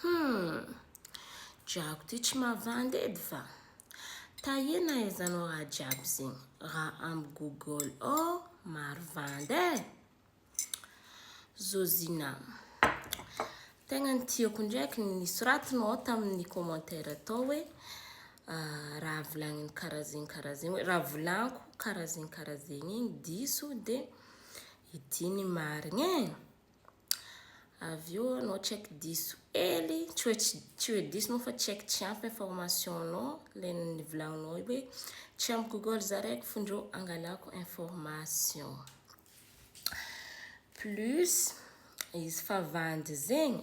Humm! Drako ty tsy mavandy edy va! Taie na aiza anao raha jiaby zegny, raha amy google ao maro vandy e! Zozina, tegna ny tiako ndraiky ny nisoratinao ao tamin'ny commentaire tao hoe raha volagniny karaha zegny karaha zegny hoe raha volaniko karaha zegny karaha zegny igny diso de ity ny marigny e! Avy eo anao tsy haiko diso kely, tsy hoe tsy tsy hoe diso moa fa tsy haiko tsy ampy information-nao ilay nivolaninao hoe tsy amin'ny google zaraiko fony reo angalako information. Plus izy fa vandy zegny.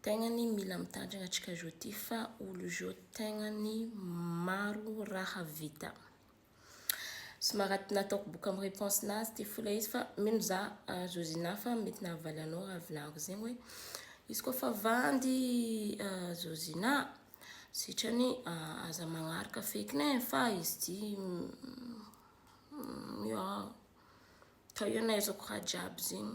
Tegna ny mila mitandrigna atsika zao ty fa olo zao tegna ny maro raha vita. Somary nataoko boka amin'ny réponse nazy ty fo ilay izy fa mino za Zozina fa mety nahavaly anao raha volagninko zegny hoe izy koa fa vandy Zozina sitrany aza magnaraka feky ne fa izy ty miôa, ka io nahaizako raha jiaby zegny.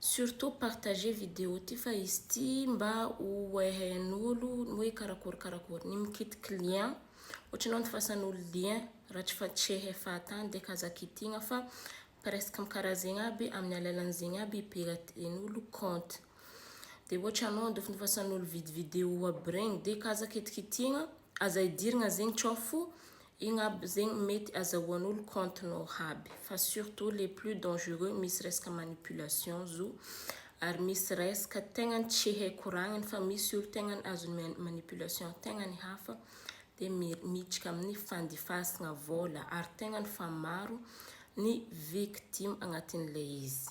Surtout partager vidéo ty fa izy ty mba ho hehen'olo ny hoe karakory karakory. Ny mikitiky lien, ohatry ny hoe antofasan'olo lien raha tsy fa tsy hehe fahatany dia ka aza kitihina fa presque karaha zegny aby amin'ny alalan'ny zegny aby ipiraten'olo compte. Dia ohatry anao andofindofasan'olo vidéo aby regny dia ka aza kitikitihina, aza idirina zegny tsao fo Igny aby zegny mety azahoan'olo compte nao haby fa surtout le plus dangereux misy resaka manipulation zo ary misy resaka tegna tsy hay koragniny fa misy olo tegna azon'ny manipulation tegna ny hafa de miditra amin'ny fandifasagna vola ary tegna fa maro ny victime agnatin'ilay izy.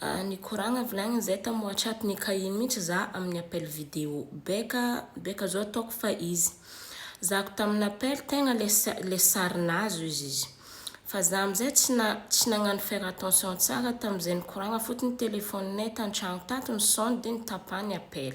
Ahh nikoragna volagniny zay tam WhatsApp n'i Kain mintsy za amin'ny appel video. Baika baika zao ataoko fa izy. Zahako tamin'ny appel tegna le le sarinazy ozy izy. Fa za amin'izay tsy na tsy nagnano faire attention tsara tamin'izay nikoragna fotony telephone-nay tan-tragno tato ny son dia nitapà ny appel.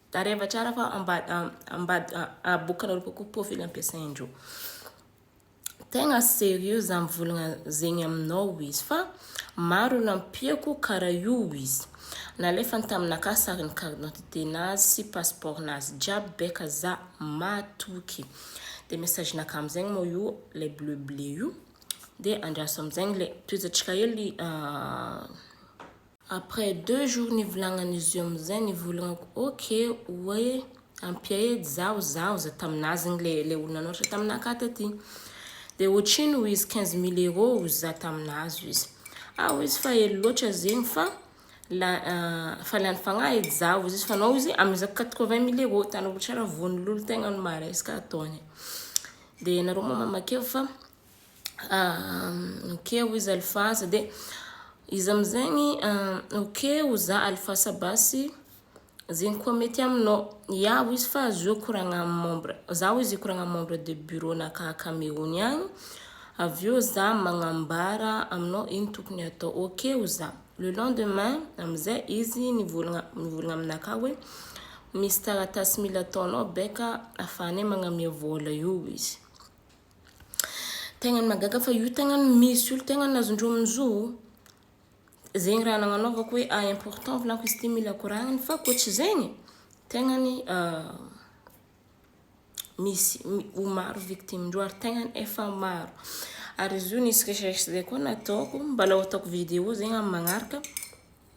Taraiva tsara fa aboakanareo kokoa profil ampiasain-dreo. Tegna sérieux za mivolagna zegny aminao izy fa maro olo ampiako karaha io izy. Nalefany taminakahy sarin'ny carte d'identité nazy sy passeport nazy jiaby beka za matoky. De message naka amizegny moa io le bleu bleu io. De andraso amizegny le tohizatsika hely Après deux jours nivolagnan'izy io amizay nivolagnako ok oe ampiady zaho zaho za taminazy igny le le olo nanoratra taminah ka taty de otrino ho izy quinze mille euro ozy za taminazy ozy izy ah ozy izy fa ela loatra zegny fa la fa lany fagnahy edy za ozy izy fa anao ozy amizako quatre vingt mille euro hitanao tsara von'olo tegna no maresaka ataony de nareo moa mamakeo fa ok hoy izy alifasa dia izy amizegny ok hoy za alifasa basy zegny koa mety aminao, ya hoy izy fa azoa koragna amin'ny membre, za hoy izy koragna amin'ny membre de bureau na ka Cameroun agny avy eo za magnambara aminao ino tokony hatao, ok hoy za, le lendemain amizay izy nivôlagna nivôlagna aminakahy hoe misy taratasy mila ataonao beka afahanay magname vôla io hoy izy. Tegna mahagaga fa io tegna misy olo tegna azondreo amin'ny zo ô. Zegny raha nagnanaovako hoe à important volako izy ty mila koragniny fa koa tsy zegny tegna ny misy ho maro victimen-dreo ary tegna efa maro. Ary izy io nisy recherche zay koa nataoko, mbalao ataoko vidéo zegny amin'ny magnaraka.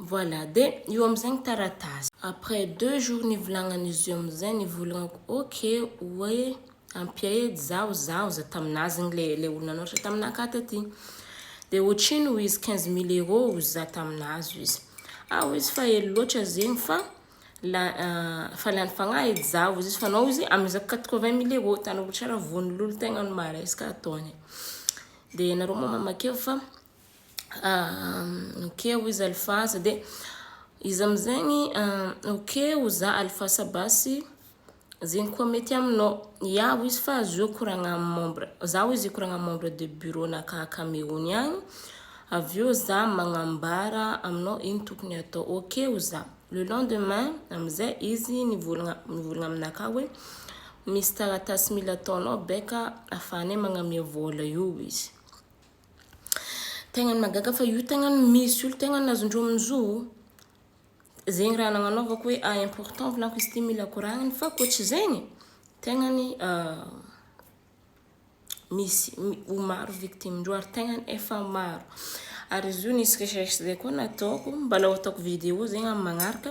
Voilà, dia io amin'izay ny taratasy. Après deux jours nivolagnan'izy io amin'izay, nivolagnako ok hoe ampiaedy zaho, zaho za tamin'azy igny le le olona nihoatra taminakahy taty. Dia ohatrino hoy izy, quinze mille euros hoy za tamin'azy hoy izy. Ah hoy izy, fa ela loatra zegny fa la fa lany fagnahy edy zaho hoy izy, fa anao hoy izy amizako quatre vingt mille euros, hitanareo tsara vono lolo tegna ny maresaka ataony. Dia nareo moa mamakeo fa ok hoy izy alifasa dia izy amin'izegny ok hoy za alifasa basy zegny koa mety aminao, ya hoy izy fa azo eo koragna amin'ny membre, za hoy izy koragna amin'ny membre de bureau ana akagny Cameroun agny avy eo za magnambara aminao ino tokony atao, ok hoy za, le lendemain amin'izay izy nivôlagna nivôlagna aminakahy hoe misy taratasy mila ataonao baika afahanay magname vôla io hoy izy. Tegna mahagaga fa io tegna misy olo tegna azondreo amin'ny zo ô. Zegny raha nagnanaovako hoe à important volako izy ty mila koragniny fa koa tsy zegny tegna misy ho maro victime ndreo ary tegna efa maro. Ary izy io nisy recherche zay koa nataoko, mbalao ataoko vidéo zegny amin'ny magnaraka.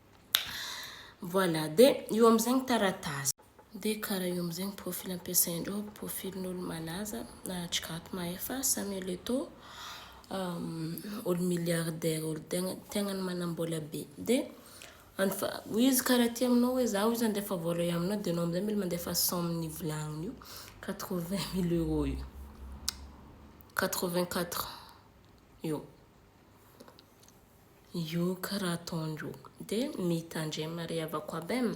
Voilà, dia io amin'izay ny taratasy. Dia karaha io amin'izay ny profil ampiasain'ireo, profilin'olo malaza, na Jigato Mahefa, Samuel Eto'o, olo milliardaire, olo tegna tegna manam-bola be. Dia any fa hoy izy karaha ty aminao hoe za hozy handefa vola io aminao dia anao amin'izay mila mandefa cent amin'ny volagniny io, quatre vingt mille euros io, quatre vingt quatre io. Io karaha ataony io dia mitandrema ry havako aby eh.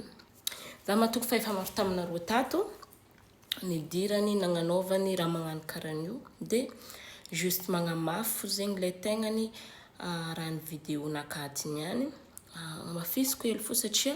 Za matoky fa efa maro taminareo tato nidirany nagnanaovany raha magnano karaha an'io dia juste magnamafy fo zegny le tegnany raha ny video nakatiny ihany. Hamafisiko hely fo satria.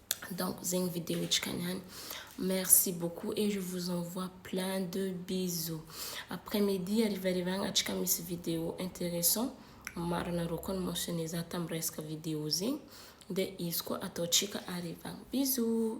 donc zegny video antsika niany merci beaucoup et je vous envoie plein de bisous après midi harivariva agny antsika misy video interessant maro anareo koa ni mentionne za tam resaka video zegny de izy koa ataontsika harivagny bisous